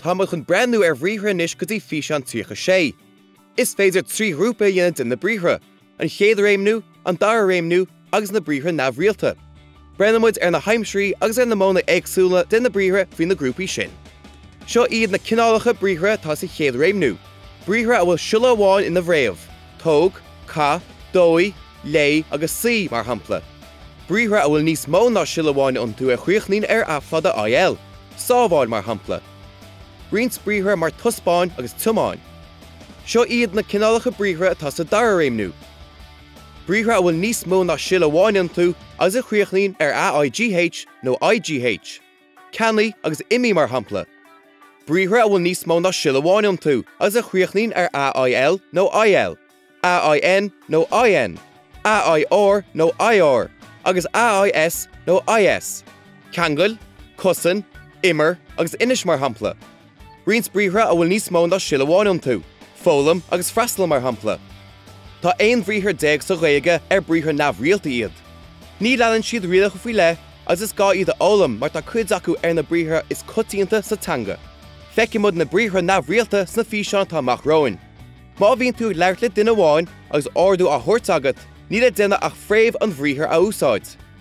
Tá muid chun breathnú ar bhriathra anois go dtí físeán 36. Is féidir trí ghrúpa a dhéanamh de na briathra, an chéad réimniú, an dara réimniú, agus na briathra neamhrialta. Breathnóidh muid ar na haimsirí agus ar na modhanna éagsúla de na briathra faoi na grúpaí sin. Seo iad na cineálacha briathra atá sa chéad réimniú, briathra a bhfuil siolla amháin ina bhfréamh, tóg, caith, dóigh, léigh agus suigh, mar shampla, briathra a bhfuil níos mó ná siolla amháin iontu a chríochnaíonn ar a fada IL, sábháil, mar shampla. Roinnt briathra mar taispeáin agus tiomáin. Seo iad na cineálacha briathra atá sa dara réimniú. briathra a bhfuil níos mó ná siolla amháin iontu agus a chríochnaíonn ar a, i, gh nó i, gh, ceannaigh agus imigh, mar shampla, briathra a bhfuil níos mó ná siolla amháin iontu agus a chríochnaíonn ar a, il, nó il, a, in, nó in, a, ir, nó ir, agus a, is, nó is, ceangail, cosain, imir, agus inis, mar shampla. Roinnt briathra a bhfuil níos mó ná siolla amháin iontu, foghlaim agus freastal, mar shampla. Tá aon bhriathar déag sa Ghaeilge ar briathra neamhrialta iad. Ní leanann siad rialacha faoi leith agus is gá iad a fhoghlaim mar tá cuid acu ar na briathra is coitianta sa teanga. Feicfidh muid na briathra neamhrialta sna físeáin atá amach romhainn. Má bhíonn tú ag labhairt le duine amháin agus ordú á thabhairt agat, níl le déanamh ach fréamh an bhriathair a úsáid.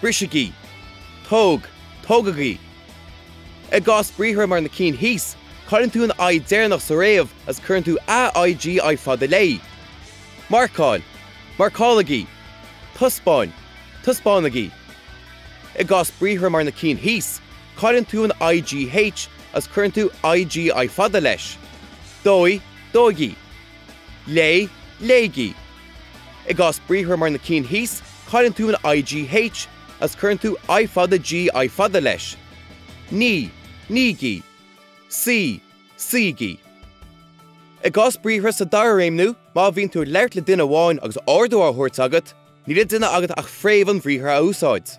brisigí, tóg, tógaigí. I gcás briathra mar na cinn thíos, cailleann tú an I deireanach sa fhréamh agus cuireann tú AIGI fada léi. marcáil, marcálaigí, taispeáin, taispeánaigí. I gcás briathra mar na cinn thíos, cailleann tú an IGH agus cuireann tú IGI fada leis. dóigh, dóigí. léigh, léigí. I gcás briathra mar na cinn thíos, cailleann tú an IGH agus cuireann tú I fada GI fada leis. Nigh, nígí. Suigh, suígí. I gcás briathra sa dara réimniú, má bhíonn tú ag labhairt le duine amháin agus ordú á thabhairt agat, níl le déanamh agat ach fréamh an bhriathair a úsáid.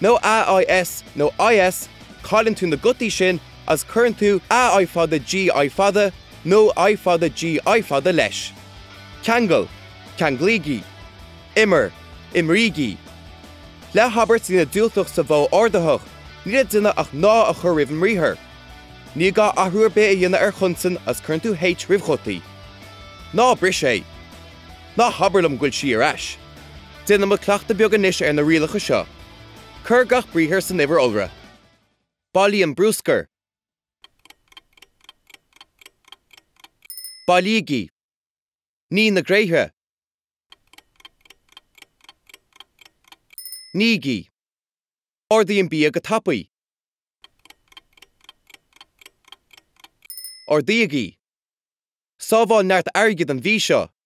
nó a IS nó IS cailleann tú na gutaí sin agus cuireann tú a i fada GI fada nó i fada GI fada leis. ceangail, ceanglaígí, imir, imrígí. Le habairt a dhéanamh diúltach sa mhodh ordaitheach, níl le déanamh ach ná a chur roimh an mbriathar. Ní gá athrú ar bith a dhéanamh ar chonsan agus cuireann tú H roimh ghutaí. Ná bris é! Ná habair liom go bhfuil sí ar ais! Déanfaimid cleachtadh beag anois ar na rialacha seo. Cuir gach briathar san uimhir iolra. Bailigh an bruscar. Bailígí. Nigh na gréithre. Nígí. Ordaigh an bia go tapaidh. Ordaígí. Sábháil neart airgid an mhí seo.